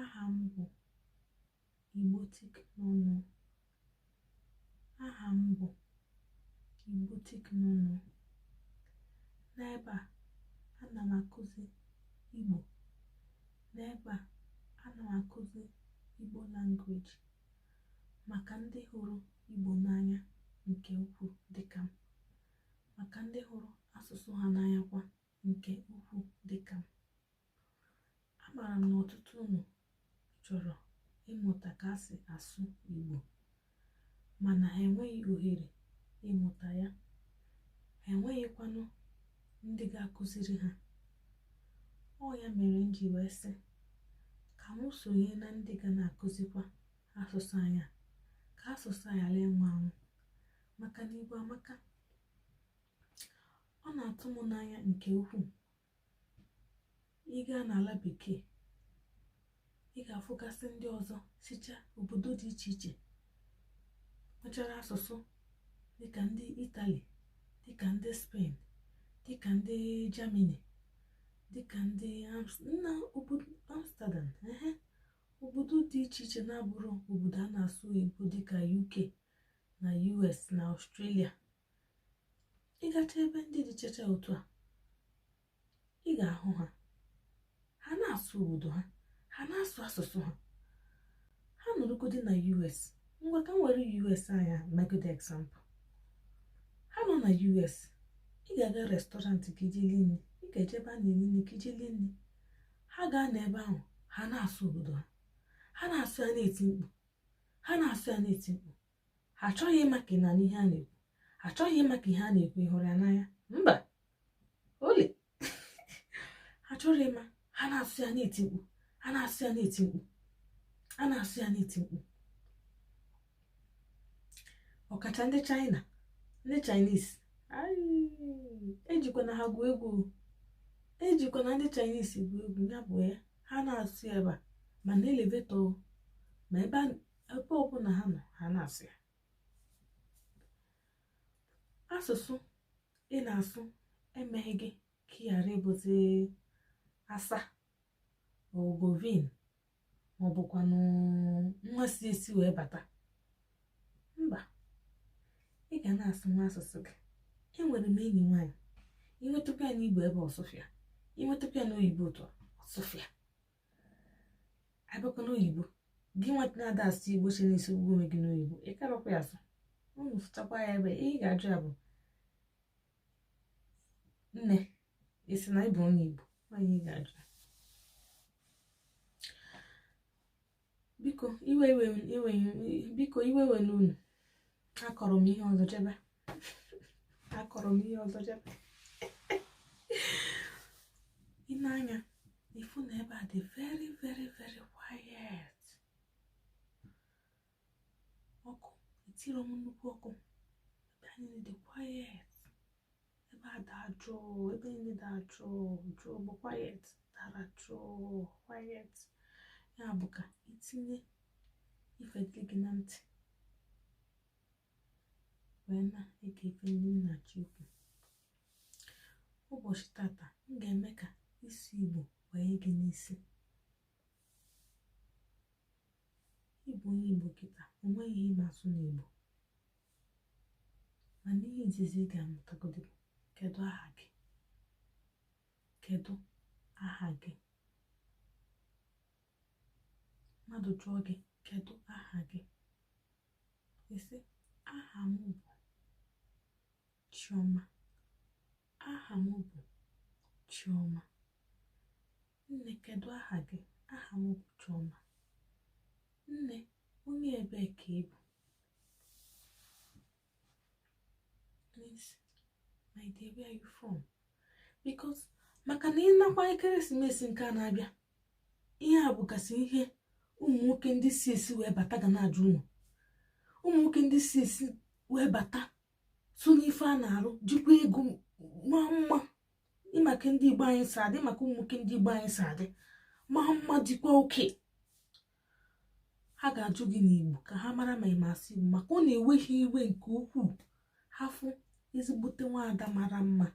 Aha m bụ Igbotic Nụnụ. Aha m bụ Igbotic Nụnụ. N'ebe a, ana m akụzi Igbo. N'ebe a, ana m akụzi Igbo language maka ndị hụrụ Igbo n'anya nke ukwuu dịka m, maka ndị hụrụ asụsụ ha n'anya kwa nke ukwuu dịka m. amaara m na ọtụtụ unu chọrọ ịmụta ka e si asụ Igbo mana ha enweghị ohere ịmụta ya ha enweghịkwanụ ndị ga-akụziri ha ọ ya mere m ji wee sị ka m sonye na ndị ga na-akụzikwa asụsụ anyị a ka asụsụ anyị ghara ịnwụ anwụ maka na Igbo amaka ọ na-atụ m n'anya nke ukwuu ị gaa n'ala bekee ị ga-afụgasị ndị ọzọ sicha obodo dị iche iche nwechara asụsụ dịka ndị italy dịka ndị spain dịka ndị germany dịka ndị na obodo amsterdam ehe obodo dị iche iche na-abụrọ obodo a na-asụ oyibo dịka uk na us na australia ị gacha ebe ndị dị iche iche otu a ị ga-ahụ ha ha na-asụ obodo ha ha na-asụ asụsụ ha ha nọrụgodi na us ngwa ka m were us anyị a megode example ha nọ na us ị ga-aga restaurant ka i je lie nri ị ga-eje ebe a na-eli nri ka i je lie nri ha gaa na ebe ahụ ha na-asụ obodo ha ha na-asụ ya na-eti mkpu ha na-asụ ya na-eti mkpu ha achọghị ịma ka ị na ihe a na-ekwu ha achọghị ịma ka ihe a na-ekwu ịhụrụ ya n'anya mba ole ha chọrọ ịma ha na-asụ ya na-eti mkpu ha na-asụ ya na-eti mkpu a na-asụ ya na-eti mkpu ọkacha ndị chaịna ndị chaịnis ejikwana ha gwuo egwu ejikwana ndị chaịnis gwuo egwu ya bụ ya ha na-asụ ebe a ma na elevetọ ma ebe ebe ọbụla ha nọ ha na-asụ ya asụsụ ị na-asụ emeghị gị ka ị ghara ịbụzi asa ogovin maọbụkwanụ nwa si esi wee bata mba ị ga na-asụkwa asụsụ gị enwere m enyi nwaanyị i nwetakwa ya n'igbo ebe ọ sụfịa i nwetakwa ya n'oyibo ụtọ ọ sụfịa abịakwa n'oyibo gị nwata na-ada asụ igbo si n'isi ugwu onwe gị n'oyibo ị karọkwa ya asụ unu fụchakwa ya ebe ihe ị ga-ajụ ya bụ nne ị sị na ị bụ onye igbo nwaanyị ị ga-ajụ ya biko iwe iwe iwe biko iwe ewena unu akọrọ m ihe ọzọ jebe akọrọ m ihe ọzọ jebe ị nee anya ị fụ na ebe a dị very very very quiet ọkụ etirọ m nnukwu ọkụ ebe a niile dị quiet ebe a daa jụụ ebe niile daa jụụ jụụ bụ quiet dara jụụ quiet ya bụ ka i tinye ife dị gị na ntị wee na-ege ife ndị m na-achọ ikwu ụbọchị tata m ga-eme ka isi igbo banye gị n'isi ị bụ onye igbo kịta o nweghị ihe ị na-asụ n'igbo mana ihe izizi ị ga-amụtagodo bụ kedu aha gị kedu aha gị mmadụ jụọ gị kedu aha gị ị sị aha m bụ chioma aha m bụ chioma nne kedu aha gị aha m bụ chioma nne onye ebee ka ị bụ my dear where are you from because maka na ị nakwa ekeresimesi nke a na-abịa ihe a bụgasị ihe ụmụ nwoke ndị si esi wee bata ga na-ajụ unu ụmụ nwoke ndị si esi wee bata so n'ife a na-arụ jikwa ego maa mma ị ma ka ndị igbo anyị si adị ma ka ụmụ nwoke ndị igbo anyị si adị maa mma dịkwa oke ha ga-ajụ gị n'igbo ka ha mara ma ị ma asụ igbo maka ọ na-ewe ha iwe nke ukwuu ha fụ ezigbote nwaada mara mma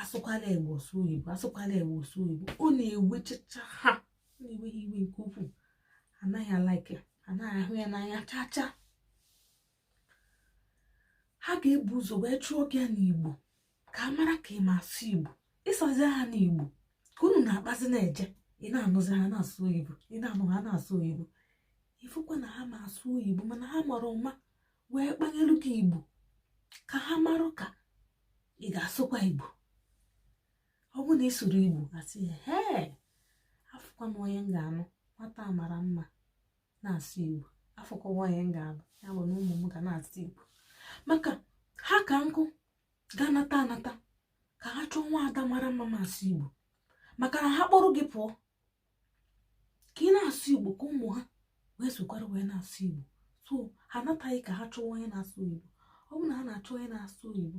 asụkwala igbo ọ sụọ oyibo asụkwala igbo ọ sụọ oyibo ọ na-ewechacha ha ọ na-ewe ha iwe nke ukwuu anaghị a-like anaghị ahụ ya n'anya chaa chaa ha ga-ebu ụzọ wee jụọ gị ya n'igbo ka a mara ka ị ma asụ igbo ị sazia ha n'igbo ka unu na-akpazi na-eje ị na-anụzi ha na-asụ oyibo ị na-anụ ha na-asụ oyibo ị fụkwa na ha ma asụ oyibo mana ha mara ụma wee kpanyelu gị igbo ka ha marụ ka ị ga-asụkwa igbo ọ bụ na ị sụrụ igbo asị hee afụkwa m onye m ga-anụ nwata mara mma na-asụ igbo afụkwa onye m ga-anụ ya bụ na ụmụ m ga na-asụ igbo maka ha ka nkụ ga-anata anata ka ha chọọ nwa ada mara mma ma asụ igbo maka na ha kpọrọ gị pụọ ka ị na-asụ igbo ka ụmụ ha wee sokwara wee na-asụ igbo so ha anataghị ka ha chọwa onye na-asụ igbo ọ bụ na ha na-achọ onye na-asụ oyibo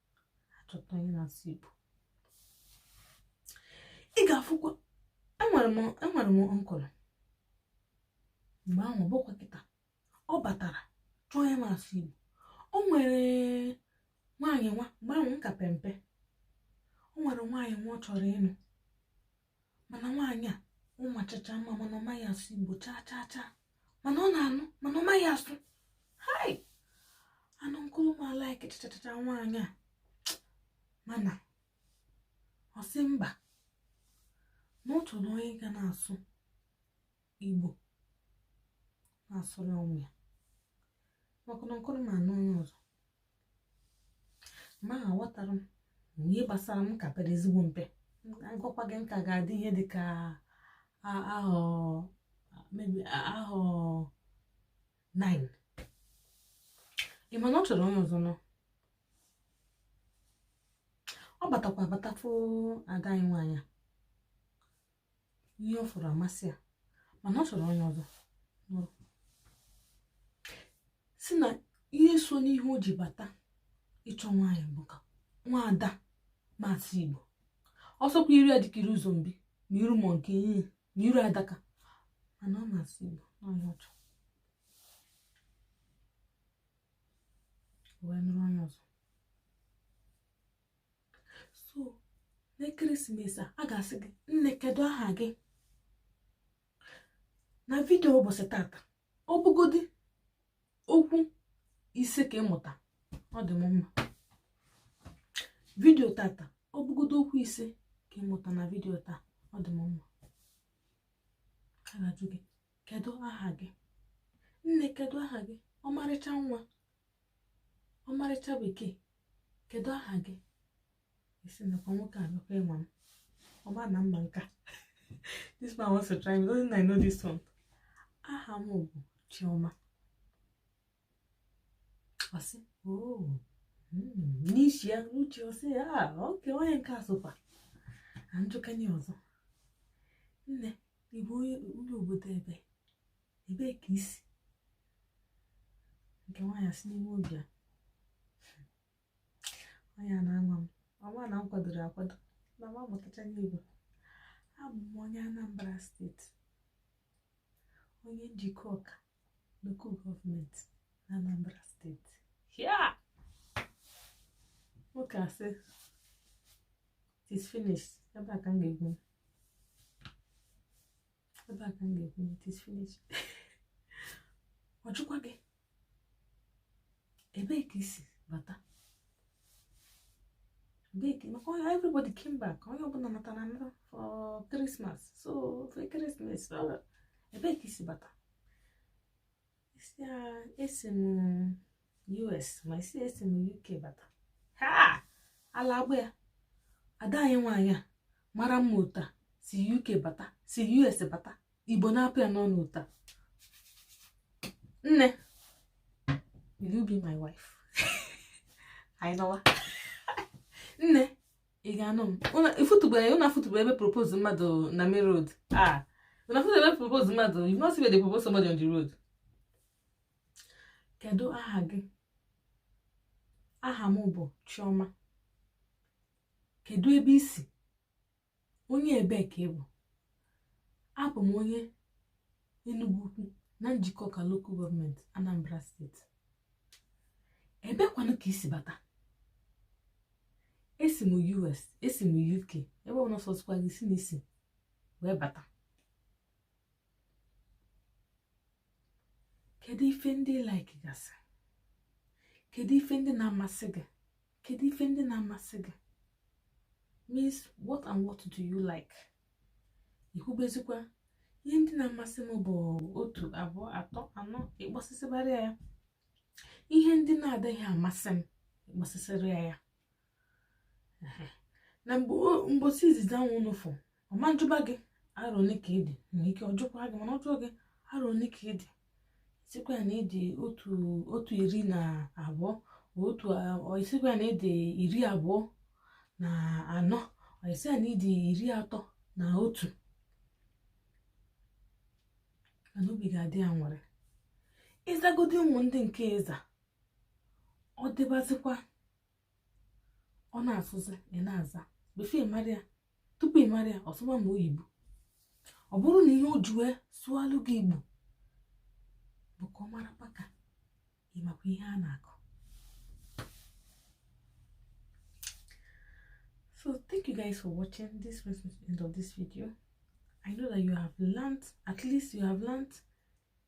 achọta onye na-asụ igbo ị ga-afụkwa enwere m enwere m uncle mgbe ahụ bụkwa kịta ọ batara chọọ onye na-asụ igbo o nwere nwaanyị nwa mgbe ahụ m ka pe mpe o nwere nwaanyị nwa ọ chọrọ ịnụ mana nwaanyị ahụ machacha mma mana ọ maghị asụ igbo chaa chaa chaa mana ọ na-anụ mana ọ maghị asụ hai and uncle m alaiki chachachacha nwaanyị a mana ọ sị mba na ọ chọrọ onye ga na-asụ igbo na-asụrụ ụmụ ya maka na uncle m anụ onye ọzọ ma aghọtara m na ihe gbasara m ka pere ezigbo mpe agwakwa gị m ka ga-adị ihe dị ka a- ahọ maybe ahọ 9 ị ma na ọ chọrọ onye ọzọ nụọ ọ batakwa abata fụ ada anyị nwaanyị a. ihe ọ fụrụ amasị ya mana ọ chọrọ onye ọzọ nụrụ sị na ihe so n'ihe o ji bata ịchọ nwaanyị bụ ka nwaada ma asụ igbo ọ sọkwa iru ya dịka iru zombie ma iru monkey ma iru adaka mana ọ ma asụ igbo na ọ ya ọ chọọ wee nụrụ onye ọzọ so n'ekeresimesi a a ga-asị gị nne kedu aha gị na vidio ụbọchị tata ọ bụgodi okwu ise ka ị mụta ọ dị m mma vidio tata ọ bụgodo okwu ise ka ị mụta na vidio taa ọ dị m mma a ga-ajụ gị kedu aha gị nne kedu aha gị ọmarịcha nwa ọmarịcha bekee kedu aha gị ị sị nekwa nwoke a nakwa ịnwa m ọ ma na m ma nke a this man wants to try me doesn't I know this one aha m bụ Chioma ọ sị oh hmm, n'isi ya n'uche ọ sị ya ah, okay onye nke a sokwa na njụkanye ọzọ nne ị bụ onye obodo ebe ebee ka i si nke nwaanyị asị n'ime obi ya nwaanyị a na-anwa m ọnwa na m kwadoro akwado na m amụtachaghị igbo abụ m onye Anambra state onye Njikọka local government na Anambra state nwoke asị it is finished ebe a ka m ga-ebi ebe a ka m ga-ebi it is finished ọ jụkwa gị ebee ka i si bata ebee ka maka onye everybody came back onye ọbụla natara anata for Christmas so for Christmas ebee ka i si bata ị sị ya esi m us ma ị sị esi m uk bata ha ala agba ya ada anyị nwaanyị a mara mma otu a si uk bata si us bata igbo na-apụ ya n'ọnụ otu a nne will you be my wife ị nụwa nne ị ga-anụ m ị fụtụbe ụnụ afụtụbe ebe propose mmadụ na main road ah ụnụ afụtụbe ebe propose mmadụ you no see where they propose somebody on the road kedu aha gị aha m bụ chioma kedu ebe i si onye ebee ka ị bụ abụ m onye Enugu Ukwu na Njikọka local government Anambra state ebee kwanụ ka i si bata esi m US esi m UK ebe ọ na-asọsịkwa gị sị na i si wee bata kedu ife ndị ị like gasị kedu ife ndị na-amasị gị kedu ife ndị na-amasị gị means what and what do you like i kwubezikwa ihe ndị na-amasị m bụ otu abụọ atọ anọ ị kpọsịsịbara ya ihe ndị na-adịghị amasị m ị kpọsịsịrị ya na mbọsị izizi anwa ụnụ fụ ọ ma njụba gị arọ ole ka ị dị nwere ike ọ jụkwa gị mana ọ jụọ gị arọ ole ka ị dị sịkwa ya na ị dị otu otu iri na abụọ or ị sịkwa ya na ị dị iri abụọ na anọ ị sị ya na ị dị iri atọ na otu mana obi ga-adị ya nwere ị zagodi ụmụ ndị nke ị za ọ dịbazikwa ọ na-asụzi ị na-aza before ị mara ya tupu ị mara ya ọ sụwa ma oyibo ọ bụrụ na ihe o ji wee sụalụ gị igbo bụ ka ọ mara maka ị makwa ihe a na-akọ so thank you guys for watching this brings me to the end of this video i know that you have learned at least you have learned